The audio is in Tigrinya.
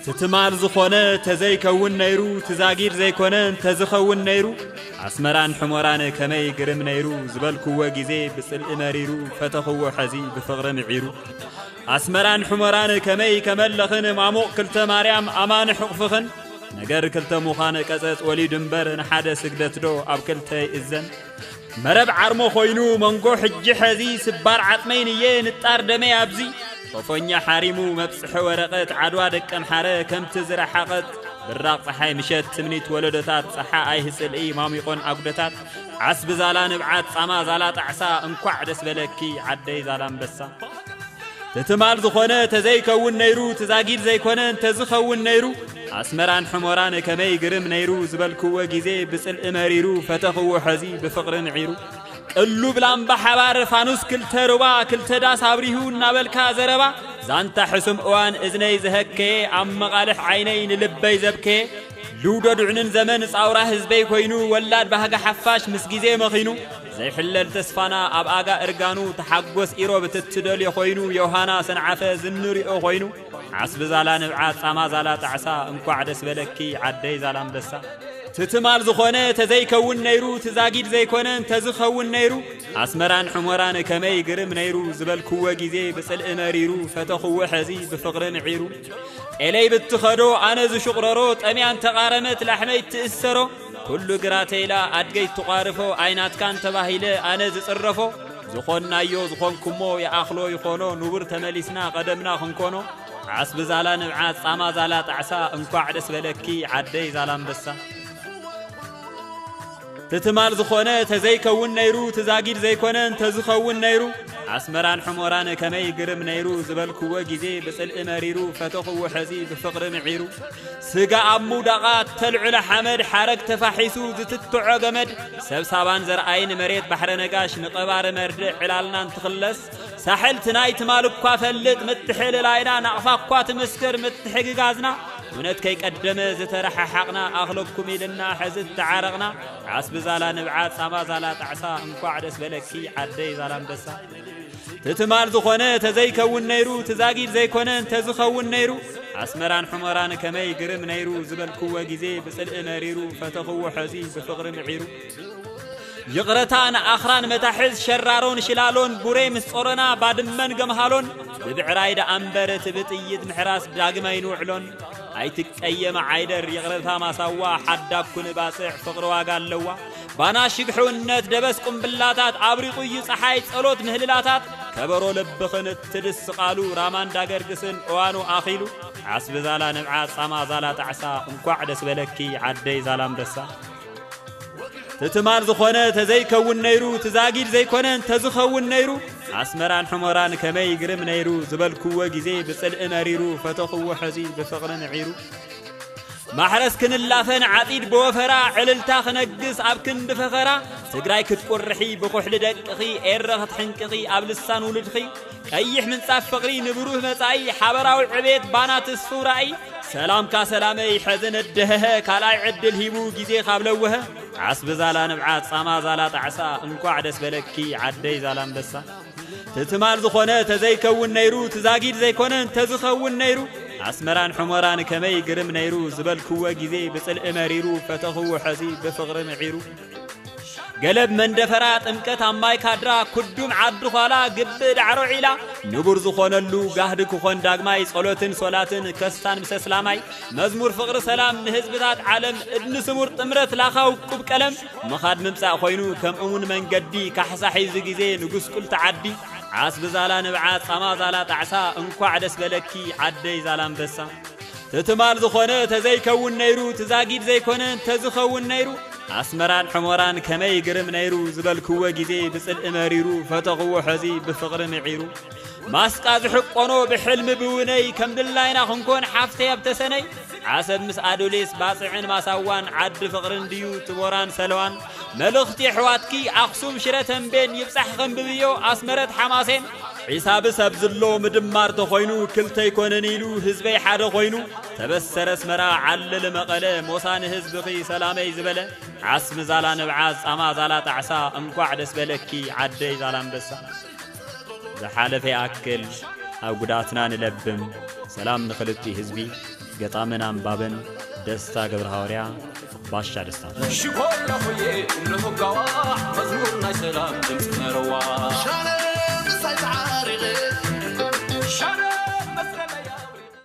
እቲ ትማል ዝኾነ ተዘይከውን ነይሩ ትዛጊድ ዘይኮነ እንተዝኸውን ነይሩ ኣስመራን ሕሞራን ከመይ ግርም ነይሩ ዝበልክዎ ግዜ ብጽልኢ መሪሩ ፈተኽዎ ሐዚ ብፍቕሪ ምዒሩ ኣስመራን ሕሞራን ከመይ ከመለኽን ማሙቕ ክልተ ማርያም ኣማን ሕቕፍኽን ነገር ክልተ ምዃን ቀጸጽ ወሊዱ እምበር ንሓደ ስግደትዶ ኣብ ክልተ ይእዘን መረብ ዓርሞ ኮይኑ መንጎ ሕጂ ሐዚ ስባር ዓጽመይ ንየ ንጣር ደመይ ኣብዚ ጦፎኛ ሓሪሙ መብጽሐ ወረቀት ዓድዋ ደቀምሓረ ከምቲ ዝረሓቐት ብራቕ ፀሓይ ምሸት ትምኒት ወለዶታት ፀሓ ኣይህ ፅልኢ ማሚቆን ኣጉደታት ዓስቢ ዛላ ንብዓት ፃማ ዛላ ጣዕሳ እንኳዕ ደስ በለኪ ዓደይ ዛላ ኣንበሳ ትትማል ዝኾነ ተዘይከውን ነይሩ ትዛጊድ ዘይኮነ እንተዝኸውን ነይሩ ኣስመራን ሕሞራን ከመይ ግርም ነይሩ ዝበልክዎ ግዜ ብጽልኢ መሪሩ ፈተኽዎ ሐዚ ብፍቕሪ ንዒሩ ቅሉብ ላምባ ሓባር ፋኑስ ክልተ ሩባ ክልተ ዳስ ኣብሪሁ እናበልካ ዘረባ ዛንታ ሕሱም እዋን እዝነይ ዘሀከየ ኣብ መቓልሕ ዓይነይ ንልበይ ዘብከየ ልውደዱዕንን ዘመን ጻውራ ህዝበይ ኮይኑ ወላድ ባህጋ ሓፋሽ ምስ ግዜ መኺኑ ዘይሕለል ተስፋና ኣብ ኣጋ እርጋኑ ተሓጎስ ኢሮብ እትትደልዮ ኮይኑ ዮሃና ሰንዓፈ ዝንሪኦ ኮይኑ ዓስቢ ዛላ ንብዓት ጻማ ዛላ ጣዕሳ እንኳዕ ደስ በለኪ ዓደይ ዛላ ኣንበሳ ትትማል ዝኾነ ተዘይከውን ነይሩ ትዛጊድ ዘይኮነ እንተዝኸውን ነይሩ ኣስመራን ሕሞራን ከመይ ግርም ነይሩ ዝበልክዎ ግዜ ብጽልኢ መሪሩ ፈተኽዎ ሕዚ ብፍቕሪ ምዒሩ ጤለይ ብትኸዶ ኣነ ዝሽቕረሮ ጠሚያ እንተቓረመት ላሕመይ ትእሰሮ ኩሉ ግራ ተይላ ኣድገይ ትቋርፎ ኣይናትካን ተባሂለ ኣነ ዝጽረፎ ዝኾንናዮ ዝኾንኩሞ ይኣኽሎ ይኾኖ ንቡር ተመሊስና ቀደምና ክንኮኖ ዓስቢ ዛላ ንብዓት ጻማ ዛላ ጣዕሳ እንኳዕ ደስ በለኪ ዓደይ ዛላ ኣንበሳ ትትማል ዝኾነ ተዘይከውን ነይሩ ትዛጊድ ዘይኮነ እንተዝኸውን ነይሩ ኣስመራን ሕሞራን ከመይ ግርም ነይሩ ዝበልክዎ ግዜ ብጽልኢ መሪሩ ፈተኽዎ ሕዚ ብፍቕሪ ምዒሩ ስጋ ኣብ ምውዳቓ እተልዕሎ ሓመድ ሓረግ ተፋሒሱ ዝትትዖ ገመድ ሰብ ሳባን ዘርኣይን መሬት ባሕረ ነጋሽ ንቐባሪ መርድእ ዕላልና እንትኽለስ ሳሕልቲ ናይ ትማል እኳ ፈልጥ ምትሕልላይና ናቕፋ እኳ ትምስክር ምትሕግጋዝና እውነት ከይቀደመ ዝተረሓሓቕና ኣኽለኩም ኢልና ሕዚ እተዓረቕና ዓስቢ ዛላ ንብዓት ጻማ ዛላ ጣዕሳ እንኳዕ ደስ በለኪ ዓደይ ዛላ ኣንበሳ ትትማል ዝኾነ ተዘይከውን ነይሩ ትዛጊድ ዘይኮነ እንተዝኸውን ነይሩ ኣስመራን ሕመራን ከመይ ግርም ነይሩ ዝበልክዎ ግዜ ብጽልኢ መሪሩ ፈተኽዎ ሐዚ ብፍቕሪ ምዒሩ ይቕረታ ንኣኽራን መታሕዝ ሸራሮን ሽላሎን ቡሬ ምስ ጾሮና ባድመን ገምሃሎን ብብዕራይ ደኣምበር እቲ ብጥይት ምሕራስ ዳግመ ኣይንውዕሎን ኣይትቀየመ ዓይደር ይቕረታ ማሳዋ ሓዳኩ ንባጽዕ ፍቕሪ ዋጋ ኣለዋ ባና ሽግሕውነት ደበስ ቁምብላታት ኣብሪቑ'ዩ ጸሓይ ጸሎት ምህልላታት ከበሮ ልብኽን እትድስቓሉ ራማ እንዳገርግስን እዋኑ ኣኺሉ ዓስቢ ዛላ ንብዓት ጻማ ዛላ ጣዕሳ እንኳዕ ደስ በለኪ ዓደይ ዛላምበሳ ትትማል ዝኾነ ተዘይከውን ነይሩ ትዛጊድ ዘይኮነ እንተዝኸውን ነይሩ ኣስመራን ሕሞራን ከመይ ግርም ነይሩ ዝበልክዎ ግዜ ብጽልኢ መሪሩ ፈተኽዎ ሕዚ ብፍቕሪ ንዒሩ ማሕረስ ክንላፈን ዓጺድ ብወፈራ ዕልልታ ክነግስ ኣብ ክንዲ ፈኸራ ትግራይ ክትቁርሒ ብኩሕሊ ደቅኺ ኤረ ክትሕንቅኺ ኣብ ልሳን ውሉድኺ ቀይሕ ምንጻፍ ፍቕሪ ንብሩህ መጻኢ ሓበራዊ ዕቤት ባና ትስፉ ራእይ ሰላምካ ሰላመይ ሕዚ ነደህሀ ካልኣይ ዕድል ሂቡ ግዜ ካብ ለወሀ ዓስቢ ዛላ ንብዓት ጻማ ዛላ ጣዕሳ እንኳዕ ደስ በለኪ ዓደይ ዛላ ኣንበሳ ትማል ዝኾነ ተዘይከውን ነይሩ ትዛጊድ ዘይኮነ እንተዝኸውን ነይሩ ኣስመራን ሕሞራን ከመይ ግርም ነይሩ ዝበልክዎ ግዜ ብጽልኢ መሪሩ ፈተኽዎ ሐዚ ብፍቕሪ ምዒሩ ገለብ መንደፈራ ጥምቀት ኣብ ማይ ካድራ ኩዱም ዓዲ ኋላ ግቢ ዳዕሮ ዒላ ንቡር ዝኾነሉ ጋህዲ ክኾን ዳግማይ ጸሎትን ሶላትን ከስታን ምሰ ስላማይ መዝሙር ፍቕሪ ሰላም ንህዝብታት ዓለም እድኒ ስሙር ጥምረት ላኻ ውቁብ ቀለም ምኻድ ምምጻእ ኮይኑ ከምእውን መንገዲ ካሕሳ ሒዙ ግዜ ንጉስቁልቲ ዓዲ ዓስቢ ዛላ ንብዓት ጻማ ዛላ ጣዕሳ እንኳዕ ደስ በለኪ ዓደይ ዛላንበሳ። ትትማል ዝኾነ ተዘይከውን ነይሩ ትዛጊድ ዘይኮነ እንተዝኸውን ነይሩ ኣስመራን ሕሞራን ከመይ ግርም ነይሩ ዝበልክዎ ግዜ ብጽልኢ መሪሩ ፈተኽዎ ሐዚ ብፍቕሪ ምዒሩ ማስጣ ዝሕቆኖ ብሕልሚ ብውነይ ከም ድላይና ክንኮን ሓፍተይ ኣብ ተሰነይ ዓሰብ ምስ ኣዶሌስ ባፅዕን ማሳዋን ዓዲ ፍቕርን ድዩ ጥቦራን ሰለዋን መልእኽቲ ኣሕዋትኪ ኣኽሱም ሽረ ተንቤን ይብፃሕ ኸንብብዮ ኣስመረት ሓማሴን ዒሳብ ሰብ ዝሎ ምድማር ተኾይኑ ክልተ ይኮነን ኢሉ ህዝበይ ሓደ ኮይኑ ተበሰረ ኣስመራ ዓልል መቐለ ሞሳ ንህዝብኺ ሰላመይ ዝበለ ዓስሚ ዛላ ንብዓዝ ፃማ ዛላ ጣዕሳ እንኳዕ ደስ በለኪ ዓደይ ዛላ ኣንበሳ ዝሓለፈ ይኣክል ኣብ ጉዳትና ንለብም ሰላም ንክልቲ ህዝቢ ገጣምን ኣንባብን ደስታ ገብረ ሃዋርያ ባሻ ደስታ ሽኮላኹየ ንሙጋዋ መዝሙር ናይ ሰላም ድምፂ መረዋ ሻረ ምሳይ ተዓሪቐ ሻረ መስለለይ ኣውሪቐ